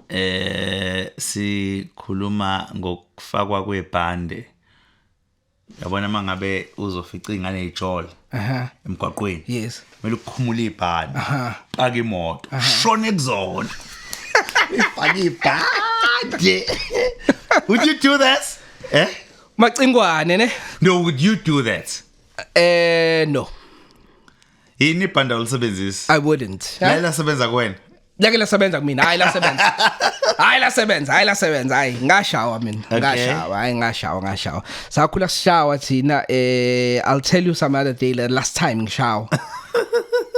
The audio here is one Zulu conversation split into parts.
eh sikhuluma ngokufakwa kwebhande yabona mangabe uzofica ingane ijol aha emgwaqweni yes kumele ukhumule ibhande Aha. paka imoto shone kuzona ifake ibhande would you do this eh macingwane ne no would you do that eh no yini ibhanda olisebenzisa i wouldn't la lasebenza kuwena lake lasebenza kumina hayi lasebenza hayi lasebenza hayi lasebenza hayi ngashawa mina Okay. ngashawa hayi ngashawa ngashawa sakhula sishawa thina eh i'll tell you some other day la- last time ngishawa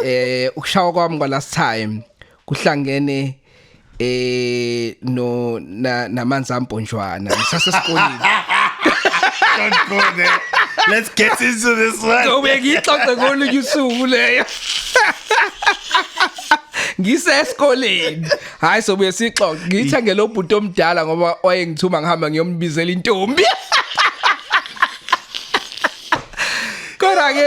eh ukushawa kwami kwa last time kuhlangene eh no na namanzi amponjwana ngisase sikoleni Don't go there. Let's get into this one. Ngobe ngixoxe ngolunye usuku leyo. Ngisesikoleni. Hayi sobuye sixoxe. Ngithe ngelobhuti omdala ngoba wayengithuma ngihamba ngiyombizela intombi. kodwa ke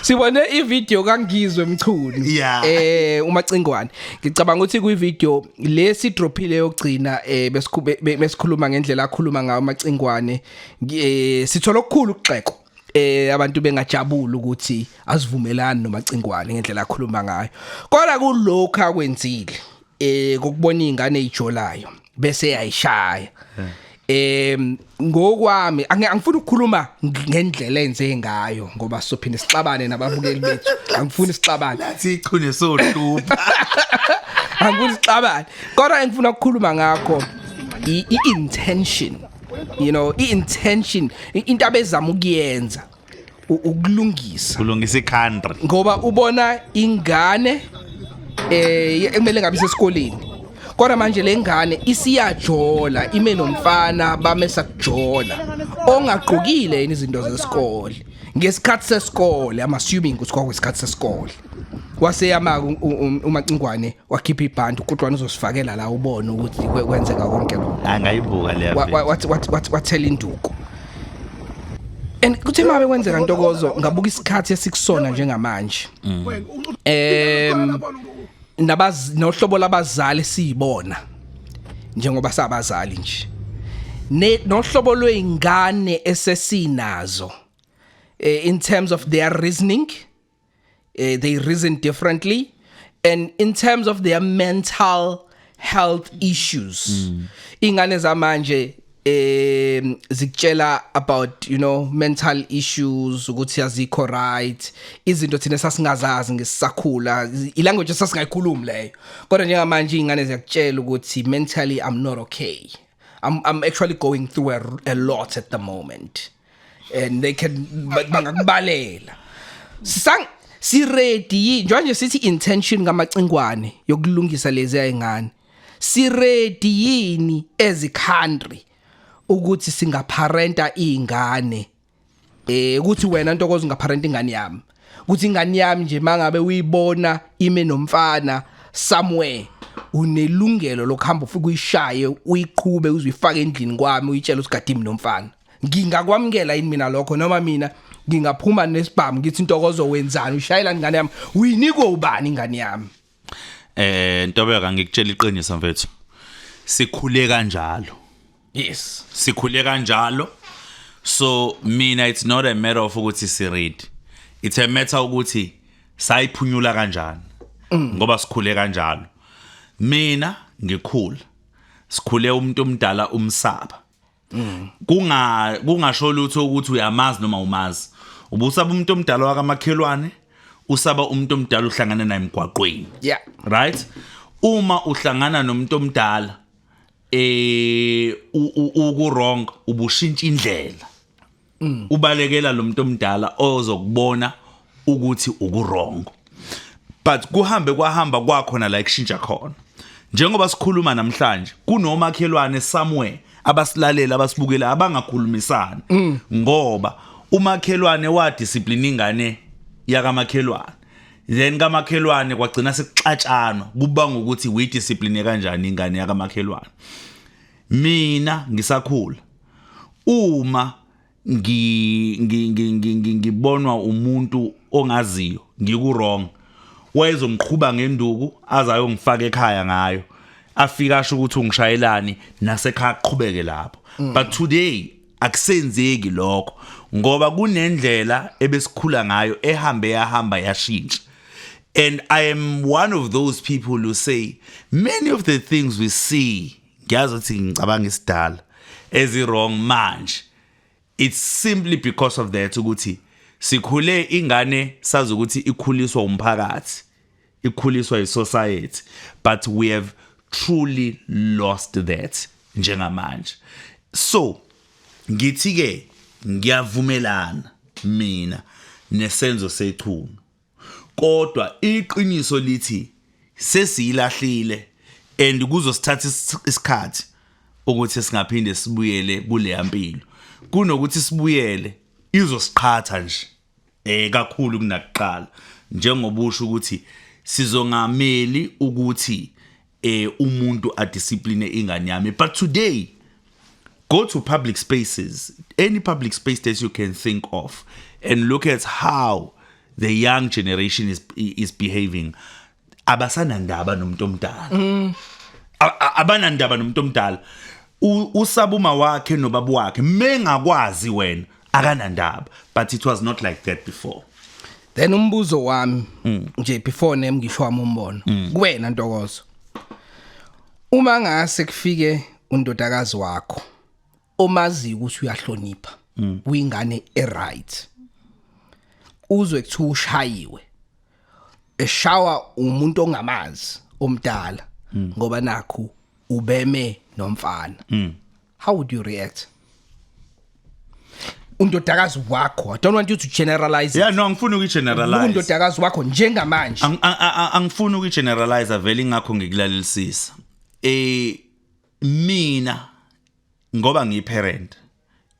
sibone ivideo kangizwe mchunu Yeah. eh umacingwane ngicabanga ukuthi kwivideo lesi drophile yokugcina eh besikhube- be- besikhuluma ngendlela akhuluma ngayo umacingwane ngi- eh, sithola okukhulu ukugxeko eh abantu bengajabula ukuthi asivumelani nomacingwane ngendlela akhuluma ngayo kodwa kulokho akwenzile eh kokubona izingane ezijolayo bese yayishaya em ngokwami angi- angifuni ukukhuluma ng- ngendlela enze ngayo ngoba sophinde sixabane nababukeli bethu angifuni sixabane sichune sohlupha angifuni sixabane kodwa engifuna ukukhuluma ngakho i- i-intention you know i-intention i- into abezama ukuyenza u- ukulungisa kulungisa i-country ngoba ubona ingane eh ye- ekumele ngabe isesikoleni kodwa manje le ngane isiyajola ime nomfana bamesa kujola ongagqokile yini izinto zesikole ngesikhathi sesikole i'm assuming ukuthi kwakwesikhathi sesikole waseyama umacingwane wakhipha ibhanti uqutwana uzosifakela la ubone ukuthi kwe- kwenzeka konke lo angayibuka leya Wa- wa- video. wathi- wathi- wathi- wathela induku and kuthe mabe kwenzeka ntokozo ngabuka isikhathi esikusona njengamanje em nabaz nohlobo labazali siyibona njengoba sabazali nje ne nohlobo lweingane esesinazo eh, in terms of their reasoning uh, they reason differently and in terms of their mental health issues mm. ingane zamanje um zikutshela about you know mental issues ukuthi azikho right izinto thina sasingazazi ngesisakhula ilanguage sasingayikhulumi leyo kodwa njengamanje ingane ziyakutshela ukuthi mentally i'm not okay i'm i'm actually going through a, a lot at the moment and they can ba- bangakubalela sang si ready yini njengoba sithi intention kamacingwane yokulungisa lezi ayingane si ready yini as a country ukuthi singaparenta izingane eh ukuthi wena ntokozo ungaparenta ingane yami ukuthi ingane yami nje mangabe uyibona ime nomfana somewhere unelungelo lokuhamba ufike uyishaye uyiqhube uzuyifake endlini kwami uyitshela usigade imi nomfana ngingakwamukela yini mina lokho noma mina ngingaphuma nesibhamu ngithi intokozo wenzani ushayela ingane yami uyinikwe ubani ingane yami eh ntobeka ngikutshela iqiniso mfethu sikhule kanjalo yes sikhule kanjalo so mina it's not a matter of ukuthi si read it's a matter ukuthi sayiphunyula kanjani mm. ngoba sikhule kanjalo mina ngikhula sikhule umuntu omdala umsaba mm. kunga kungasho lutho ukuthi uyamazi noma umazi ubusaba umuntu omdala wakamakhelwane usaba umuntu omdala uhlangana naye emgwaqweni yeah right uma uhlangana nomuntu omdala eh uku wrong ubushintsha indlela mm. ubalekela lo muntu omdala ozokubona ukuthi ukurongo but kuhambe kwahamba kwakhona la ikushintsha khona njengoba sikhuluma namhlanje kunomakhelwane somewhere abasilalela abasibukela abangakhulumisani mm. ngoba umakhelwane wa discipline ingane yakamakhelwane then kamakhelwane kwagcina sekuxatshana kuba ngokuthi we discipline kanjani ingane yakamakhelwane mina ngisakhula uma ngi ngibonwa umuntu ongaziyo ngiku wrong wayezongiqhuba ngenduku azayongifaka ekhaya ngayo afika asho ukuthi ungishayelani nasekhaya aqhubeke lapho mm. but today akusenzeki lokho ngoba kunendlela ebesikhula ngayo ehambe yahamba yashintsha and i am one of those people who say many of the things we see ngiyazi ukuthi ngicabanga isidala ezi wrong manje it's simply because of that ukuthi sikhule ingane sazi ukuthi ikhuliswa umphakathi ikhuliswa isociety but we have truly lost that njengamanje so ngithi ke ngiyavumelana mina nesenzo sechunu kodwa iqiniso lithi sesiyilahlile and kuzosithatha isikhathi ukuthi singaphinde sibuyele kuleya mpilo kunokuthi sibuyele izosiqhatha nje eh kakhulu kunakuqala njengoba usho ukuthi sizongameli ukuthi eh umuntu a discipline ingane yami but today go to public spaces any public space that you can think of and look at how the young generation is is behaving abasanandaba nomuntu omdala mm. abanandaba nomuntu omdala usabuma wakhe nobabu wakhe mengakwazi wena akanandaba but it was not like that before then umbuzo wami mm. nje before name ngisho wami umbono mm. kuwena ntokozo uma ngase kufike undodakazi wakho omazi ukuthi uyahlonipha mm. uyingane eright uzwe kuthiwa ushayiwe eshawa umuntu ongamazi omdala ngoba nakho ubeme nomfana how would you react undodakazi wakho i don't want you to generalize yeah no angifuni ukugeneralize undodakazi wakho njengamanje angifuni ukugeneralize vele ingakho ngikulalelisisa eh mina ngoba ngiyiparent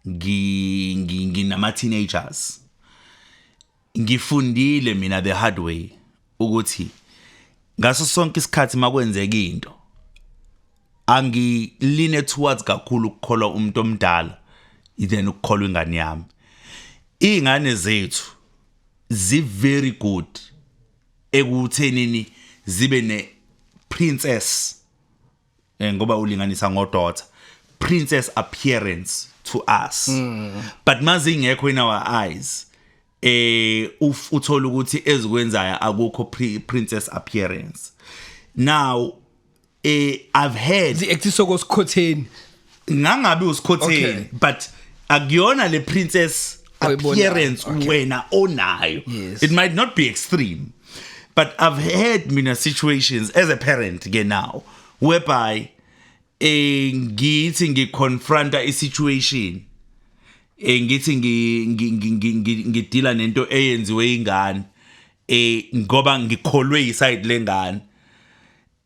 ngi nginama teenagers Ngifundile mina the hard way ukuthi ngaso sonke isikhathi makwenzeka into angiline towards kakhulu ukukholwa umuntu omdala then ukukholwa ingane yami ingane zethu zi very good ekuthenini zibe ne princess eh, ngoba ulinganisa ngo daughter princess appearance to us mm. but mazi ingekho in our eyes eh uthola ukuthi ezikwenzayo akukho princess appearance now eh i've heard the actisoko skhotheni ngangabe usikhotheni Okay. but akuyona le princess Oyibonayo, appearance okay. wena onayo Yes. it might not be extreme but i've had mina situations as a parent ke now whereby eh ngithi ngiconfronta isituation eh ngithi ngi- ngi- ngi- ngi- ngi- ngidila nento eyenziwe ingane eh ngoba ngikholwe iside lengane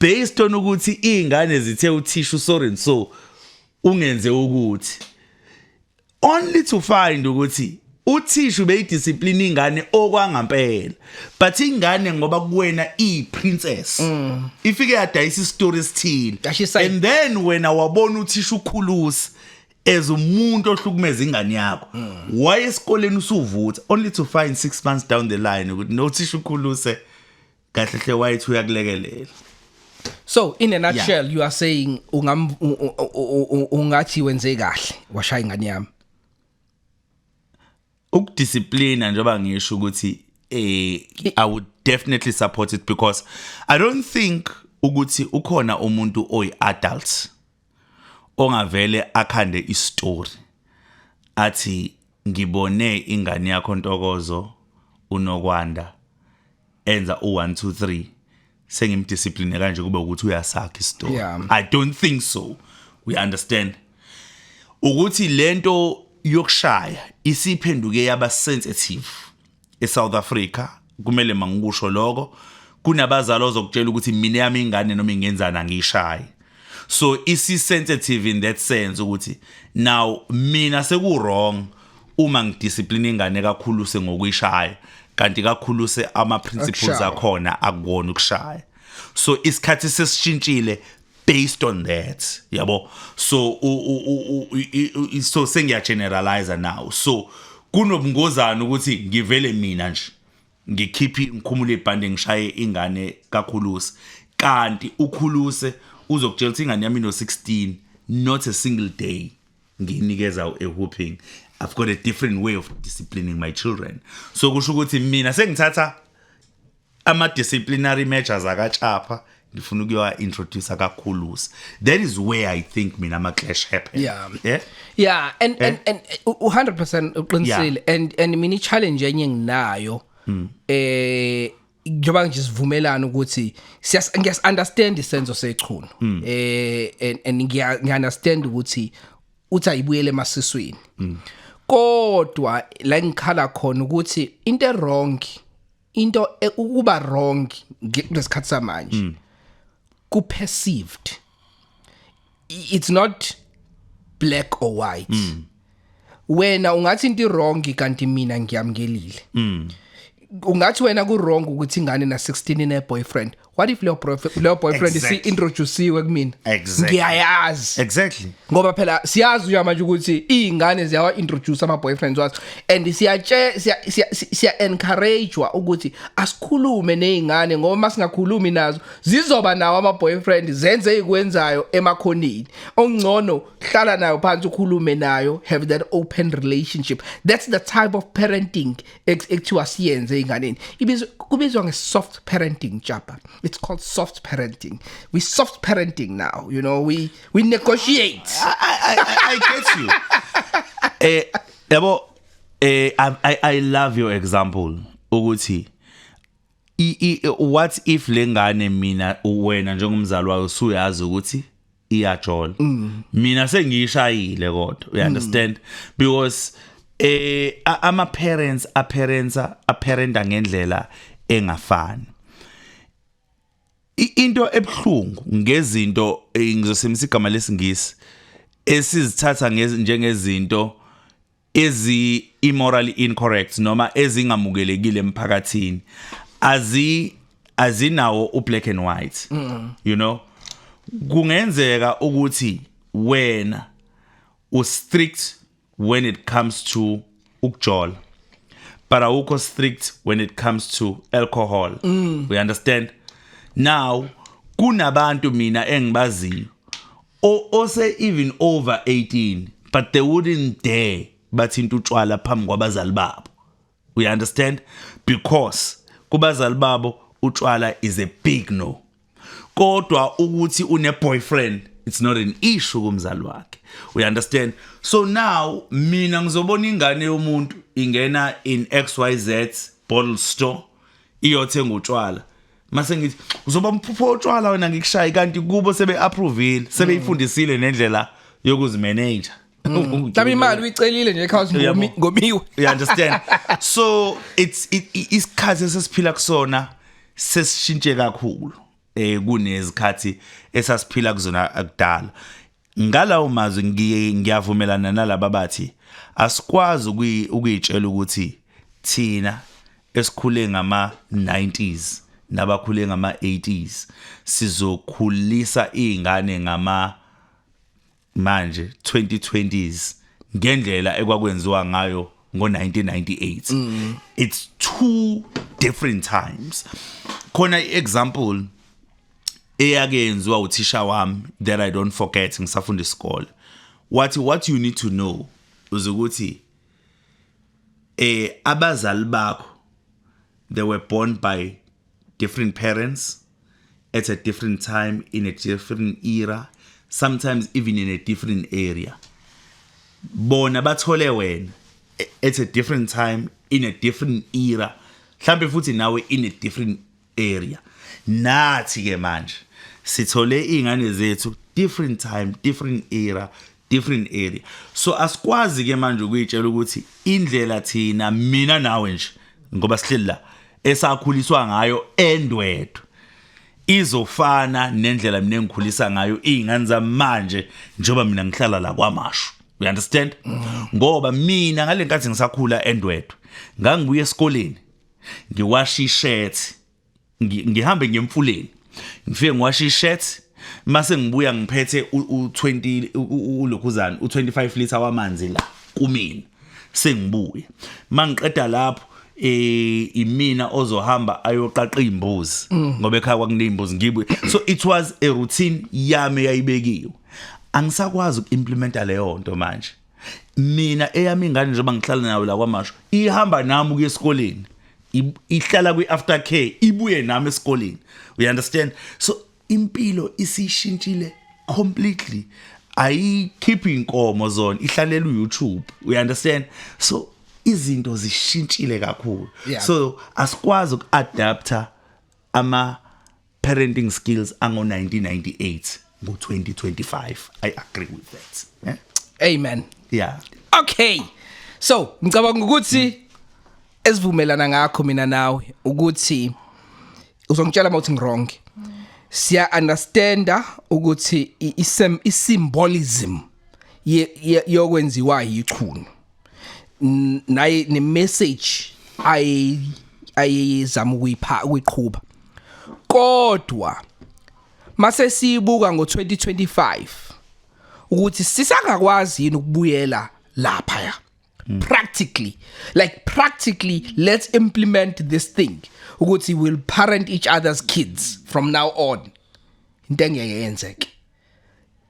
based on ukuthi izingane zithe uthisha usorry so ungenze ukuthi only to find ukuthi uthisha ubeyidiscipline ingane okwangampela but ingane ngoba kuwena iprincess mm. ifike yadayisa istory esithile and then wena wabona uthisha ukhulusi as umuntu ohlukumeza ingane yakho mm. why esikoleni usuvutha only to find 6 months down the line ukuthi nothisha ukhuluse kahle hle wayithi uyakulekelela So in a nutshell yeah. you are saying ungam ungathi wenze kahle washaya ingane yami ukudisciplina njengoba ngisho ukuthi eh I would definitely support it because I don't think ukuthi ukhona umuntu oyi adult ongavele akhande istory athi ngibone ingane yakho Ntokozo uNokwanda enza u1 2 3 sengimdiscipline kanje kube ukuthi uyasakha istory yeah. i don't think so we understand ukuthi lento yokushaya isiphenduke yaba sensitive eSouth Africa kumele mangikusho lokho kunabazali ozokutshela ukuthi mina yami ingane noma ingenzani angishayi so isi sensitive in that sense ukuthi now mina seku wrong uma ngidiscipline ingane kakhulu sengokuyishaya kanti kakhulu se ama principles akhona akuwona ukushaya so isikhathi sesishintshile based on that yabo so so sengiya generalize now so kunobungozana ukuthi ngivele mina nje ngikhiphe ngikhumule ibhande ngishaye ingane kakhulusi kanti ukhuluse uzokutshela ukuthi ingane yami no 16 not a single day nginikeza a whooping i've got a different way of disciplining my children so kusho ukuthi mina sengithatha ama disciplinary measures akaTshapha ngifuna ukuyowa introduce kakhulusi that is where i think mina ama clash happen Yeah. yeah yeah and Eh? and and u- u- 100% uqinisile and and mini challenge enye nginayo Hmm. eh njengoba nje sivumelana ukuthi siyas ngiyas understand isenzo sechunu Hmm. eh and and ngiya ngiya understand ukuthi uthi ayibuyele emasiswini Hmm. kodwa la ngikhala khona ukuthi into erong into e- ukuba wrong nge- kulesikhathi samanje Hmm. ku perceived I- it's not black or white Hmm. wena ungathi into wrong kanti mina ngiyamkelile Hmm. ungathi wena ku wrong ukuthi ingane na 16 ine boyfriend what if leyo boyfriend leyo boyfriend si Exactly. introduceiwe kumina Exactly. ngiyayazi exactly ngoba phela siyazi uya manje ukuthi izingane ziyawa introduce ama boyfriends wazo and siyatshe siya- siya- si- siya encouragewa ukuthi asikhulume nezingane ngoba masingakhulumi nazo zizoba nawo ama boyfriend zenze ikwenzayo emakhonini ongcono hlala nayo phansi ukhulume nayo have that open relationship that's the type of parenting ekuthiwa siyenze enganeni ibizwa kubizwa nge soft parenting japa it's called soft parenting we soft parenting now you know we we negotiate I, I, I, I get you eh yabo eh I, I i love your example ukuthi what if lengane mina wena njengomzali wayo usuyazi ukuthi iyajola mm. mina sengiyishayile kodwa you mm. understand because eh ama parents a parents a parenta ngendlela engafani into ebhlungu ngezinto eh, ngizosemisa igama lesingisi esizithatha njengezinto ezi immorally incorrect noma ezingamukelekile emphakathini azi azinawo u black and white mm. you know kungenzeka ukuthi wena u strict when it comes to ukujola but awukho strict when it comes to alcohol mm. we understand now kunabantu mina engibaziyo or ose even over 18 but they wouldn't dare bathinta utshwala phambi kwabazali babo we understand because kubazali babo utshwala is a big no kodwa ukuthi une boyfriend it's not an issue kumzali wakhe we understand so now mina ngizobona ingane yomuntu ingena in xyz bottle store iyothenga utshwala mase ngithi uzoba umphupho otshwala wena ngikushaye kanti kubo sebe approvile sebeyifundisile nendlela yokuzimanage Mhlawumbe imali uyicelile nje ekhaya Uyabo. ngomiwe. you understand so it's it, it- isikhathi esesiphila kusona sesishintshe kakhulu eh kunezikhathi esasiphila kuzona akudala Ngalawo mazwi ngi- ngiyavumelana nalaba bathi asikwazi ukuyi- ukuyitshela ukuthi thina esikhule ngama-90s nabakhule ngama-80s sizokhulisa iy'ngane ngama manje 2020s ngendlela ekwakwenziwa ngayo ngo-1998 it's two different times khona i-example eyakenziwa uthisha wami that i don't forget ngisafunda isikole wathi what you need to know uzukuthi eh abazali bakho they were born by different parents at a different time in a different era sometimes even in a different area bona bathole wena at a different time in a different era mhlambe futhi nawe in a different area nathi ke manje sithole izingane zethu different time different era different area so asikwazi ke manje ukuyitshela ukuthi indlela thina mina nawe nje ngoba sihleli la esakhuliswa ngayo endwedwe izofana nendlela mina engikhulisa ngayo izingane zamanje njengoba mina ngihlala la kwamashu you understand ngoba mina ngalenkathi ngisakhula endwedwe ngangibuye esikoleni ngiwashe ishirt ngihambe ngemfuleni ngifike ngiwashe ishirt mase ngibuya ngiphethe u20 ulokhuzana u25 liter wamanzi la kumina sengibuya mangiqeda lapho eh imina ozohamba ayoqaqa imbuzi mm. ngoba ekhaya kwakunezimbuzi ngibuye so it was a routine yami yayibekiwe angisakwazi ukuimplementa leyo nto manje mina eyami ingane njengoba ngihlala nayo la kwamasho ihamba nami ukuya esikoleni ihlala kwi after care ibuye nami esikoleni you understand so impilo isishintshile completely ayikhiphi inkomo zona ihlalela uYouTube you understand so izinto zishintshile kakhulu yeah. so asikwazi ukuadapter ama parenting skills ango 1998 ngo 2025 i agree with that eh? amen yeah okay so ngicabanga ukuthi esivumelana ngakho mina nawe ukuthi uzongitshela mawuthi ngirong siya understanda ukuthi isem isymbolism yokwenziwa yichunu naye ne message ay ayizama ukuyipha ukuyiqhuba kodwa mase sibuka ngo 2025 ukuthi sisangakwazi yini ukubuyela lapha ya mm. practically like practically let's implement this thing ukuthi we'll parent each other's kids from now on into engeke yenzeke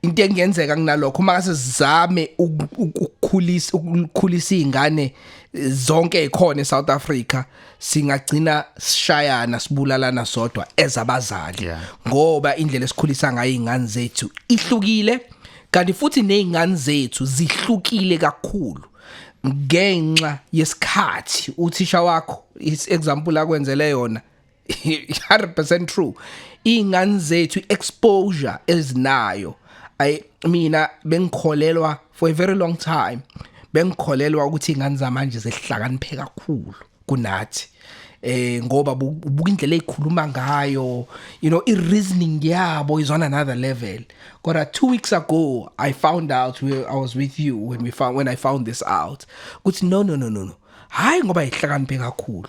into engenzeka kunalokho uma kase sizame ukukhulisa ukukhulisa izingane zonke ekhona eSouth Africa singagcina sishayana sibulalana sodwa ezabazali ngoba indlela esikhulisa ngayo izingane zethu ihlukile kanti futhi nezingane zethu zihlukile kakhulu ngenxa yesikhathi uthisha wakho example akwenzele yona 100% true ingane zethu exposure ezinayo ay mina bengikholelwa for a very long time bengikholelwa ukuthi ingane zamanje zehlakaniphe kakhulu kunathi eh ngoba ubuka indlela ezikhuluma ngayo you know i reasoning yabo is on another level kodwa 2 weeks ago i found out we, i was with you when we found when i found this out ukuthi no no no no no hayi ngoba ihlakaniphe kakhulu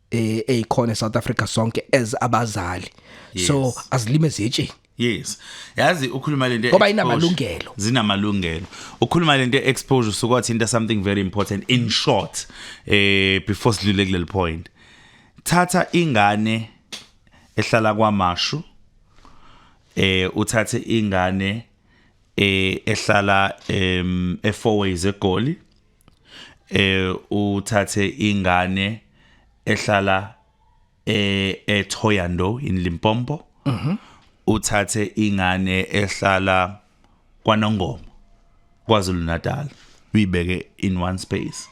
eh eyikhona eSouth Africa sonke as abazali yes. so azilime zitshini Yes. Yazi ukhuluma lento ngoba inamalungelo. Zinamalungelo. Ukhuluma lento exposure usukwathinta into something very important in short eh before sidlule kuleli point. Thatha ingane ehlala kwaMashu eh uthathe ingane eh ehlala em eFourways eGoli. eh uthathe ingane ehlala eh eThoyando in Limpopo mhm uthathe ingane ehlala kwaNongoma kwaZulu Natal uyibeke in one space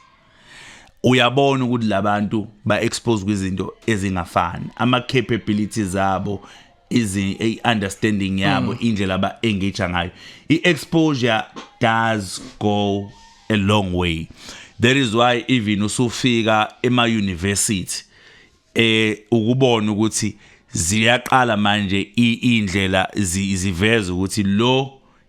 uyabona ukuthi labantu ba expose kwizinto ezingafani ama capabilities zabo izi a understanding yabo mm. indlela aba engage ngayo i exposure does go a long way that is why even usufika ema university eh ukubona ukuthi ziyaqala manje indlela ziveza ukuthi lo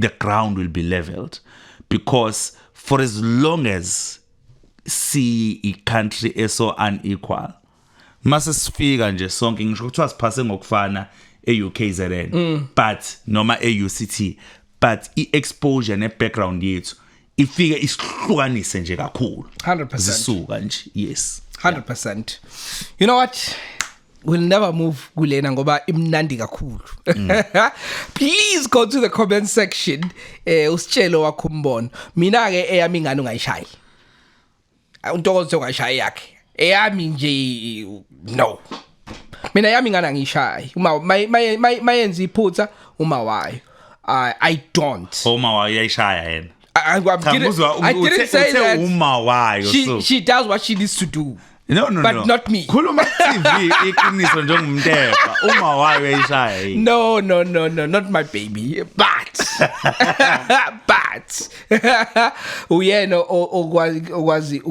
the ground will be leveled because for as long as si i country eso unequal mase sifika nje sonke ngisho ukuthi asiphase ngokufana eUKZN mm. but noma eUCT but iexposure nebackground yethu ifike isihlukanise nje kakhulu 100% zisuka nje yes 100% yeah. you know what will never move kulena ngoba imnandi kakhulu mm. please go to the comment section eh usitshelo wakho umbono mina ke eyami ingane ungayishayi untokozo sewashaya yakhe eyami nje no mina yami ngana ngishayi uma mayenza iphutha uma wayo i i don't uma wayo yayishaya yena I, I'm, I'm didn't, I didn't say that. Uma wayo. She, so. she does what she needs to do. No no but no. not me. Khuluma TV iqiniso njengomntepha. Uma wayo yayishaya. No no no no not my baby. But but uyena okwazi okwazi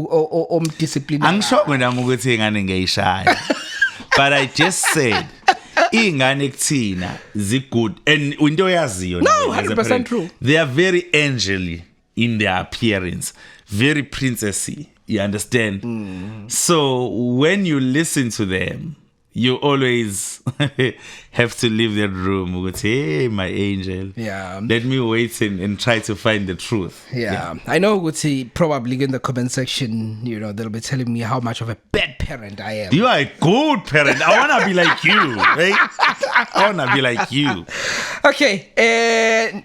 omdiscipline angisho mina ukuthi ingane ngiyishaya but i just said ingane kuthina zi good and into oyaziyo no 100% true they are very angely in their appearance very princessy you understand mm. so when you listen to them you always have to leave that room with hey my angel yeah let me wait and, and try to find the truth yeah. yeah i know ukuthi probably in the comment section you know they'll be telling me how much of a bad parent i am you are a good parent i want to be like you right i want to be like you okay uh,